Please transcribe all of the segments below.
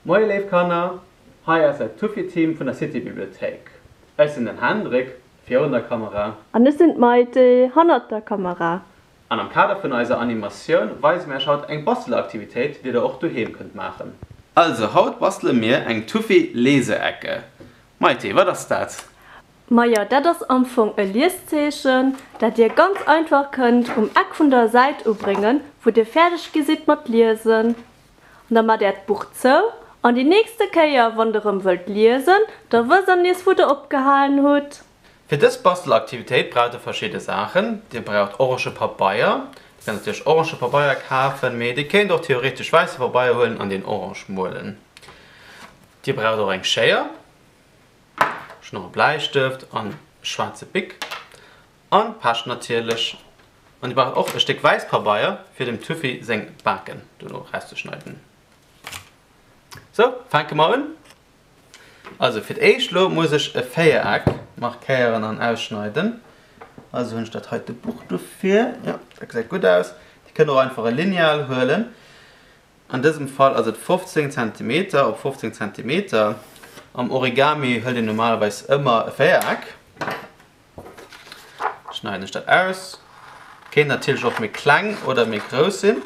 Moie léif Kanner, hei ass dat Tuffiteam vun der Citybibliothéik. Ech sinn den Hendrik, virun der Kamera. An ech sinn d'Maite, hannert der Kamera. An am Kader vun eiser Animatioun weise mir iech haut eng Basteler-Aktivitéit, déi der och doheem kënnt maachen. Also haut bastele mir eng Tuffi-Leseecke. Maite, wat ass dat? Majo, dat ass am Fong e Lieszeechen, dat dir ganz einfach kënnt um Eck vun der Säit ubréngen, wou dir fäerdeg gi sidd mat liesen. An da maacht äert Buch zou, an déi nächste Kéier, wann de rëm wëllt liesen, da wësst der nees, wou der opgehalen hutt. Fir dës Bastelaktivitéit braucht der verschidde Saachen. Dir braucht orange Pabeier. Dir kënnt natierlech orange Pabeier kafen, mee dir kéint och theoretesch wäisse Pabeier huelen an deen orange muelen. Dir braucht och eng Schéier. Ech hun och e Bläistëft an e schwaarze Bic an Pescht natierlech. An dir braucht och e Stéck wäisst Pabeier fir dem Tuffy seng Baken dono erauszeschneiden. Sou, fänke mer un. Also fir d'éischt lo muss ech e Véiereck markéieren an ausschneiden. Also hun ech dat heite Buch dofir. Jo, dat gesäit gutt aus. Dir kënnt och einfach e Lineal huelen. An dësem Fall ass et 15 Zentimeter op 15 Zentimeter. Am Origami hëlt een normalerweis ëmmer e Véiereck. Schneiden ech dat aus. Kéint natierlech och méi kleng oder méi grouss sinn.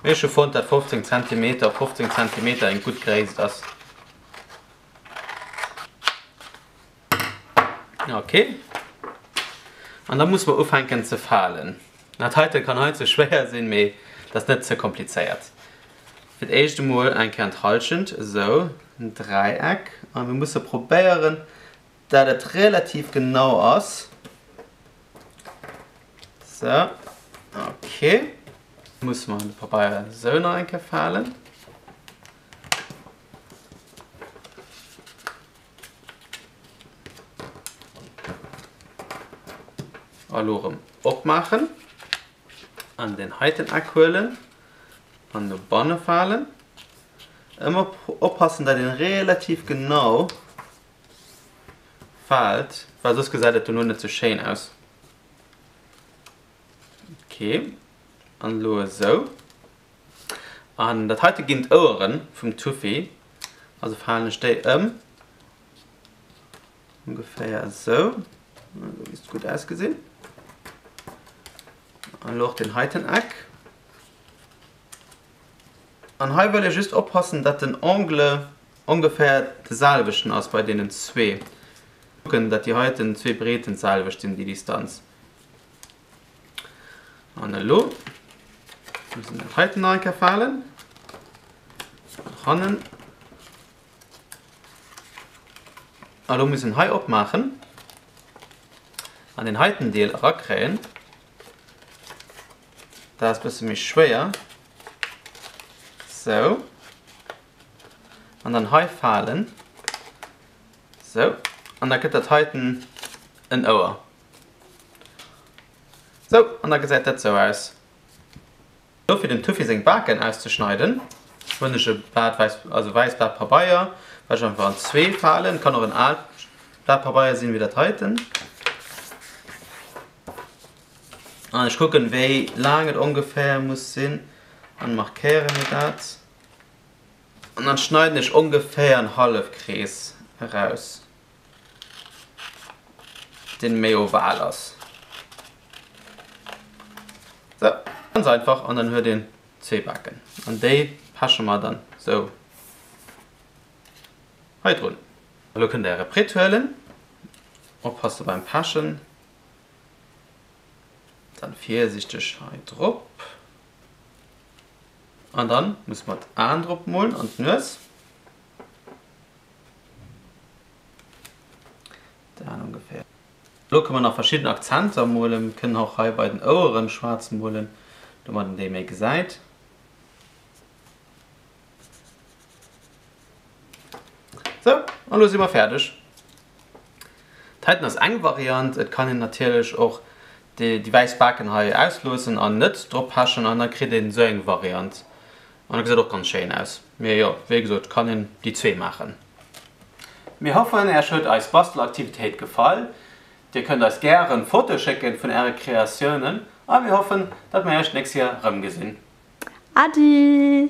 Mee ech hu fonnt, dat 15 Zentimeter op 15 Zentimeter eng gutt Gréisst ass. Ok. An da muss mer ufänken ze falen. Dat heite kann hei ze schwéier sinn, mee dat ass net ze komplizéiert. Fir d'éischt emol eng Kéier an d'Hallschent, esou, en Dräieck. A mir musse probéieren, dat et relativ genau ass. Esou, ok. Muss mer de Pabeier esou nach eng Kéier falen. An elo erëm opmaachen an deen heiten Eck huelen an no banne falen. Ëmmer oppassen, datt een relativ genau faalt, well soss gesäit et dono net sou schéin aus. Ok, an elo esou. An dat heite ginn d'Oueren vum Tuffy. Also falen ech déi ëm. Ongeféier esou. Dat misst gutt ausgesinn. An elo och deen heiten Eck. An hei wëll ee just oppassen, dat den Angle ongeféier de selwechten ass bei deenen zwee. Kucken, dat déi heiten zwee Breeten d'selwecht sinn, déi Distanz. An elo muss en dat heiten nach eng Kéier falen. Nach hannen. An elo muss en hei opmaachen an deen heiten Deel erakréien. Dat ass e bësse méi schwéier. Sou. An dann hei falen. Sou. An da kritt dat heiten en Ouer. Sou, an da gesäit dat sou aus. Do fir dem Tuffy seng Baken auszeschneiden hunn ech e Blat wäiss, also wäisst Blat Pabeier, wat ech einfach an zwee falen. Kann och en aalt Blat Pabeier sinn, wéi dat heiten. An ech kucken, wéi laang et ongeféier muss sinn an markéiere mir dat. An dann schneiden ech ongeféier en Hallefkrees eraus. deen méi oval ass. Sou, ganz einfach an dann huet een zwee Baken an déi peche mer dann sou hei drun. Elo kënnt där e Britt huelen, oppasse beim Pechen, dann virsichteg hei drop an dann musse mer d'Aen drop molen an d'Nues. Lo kënne mer nach verschidden Akzenter molen. Mir kënnen och hei bei den Oueren schwaarz molen, domat een déi méi gesäit. Sou, an lo si mer fäerdeg. D'heiten ass eng Variant. Et kann een natierlech och déi wäiss Baken hei ausloossen an net drop pechen an da kritt een esou eng Variant. An e geséit och ganz schéin aus. Mee jo, wéi gesot, kann een déi zwee maachen. Mir hoffen Äech huet eis Bastelaktivitéit gefall. Dir kënnt eis gären Fotoe schécken vun Äre Kreatiounen a mir hoffen dat mir Äech d'nächst Joer erëmgesinn. Adi!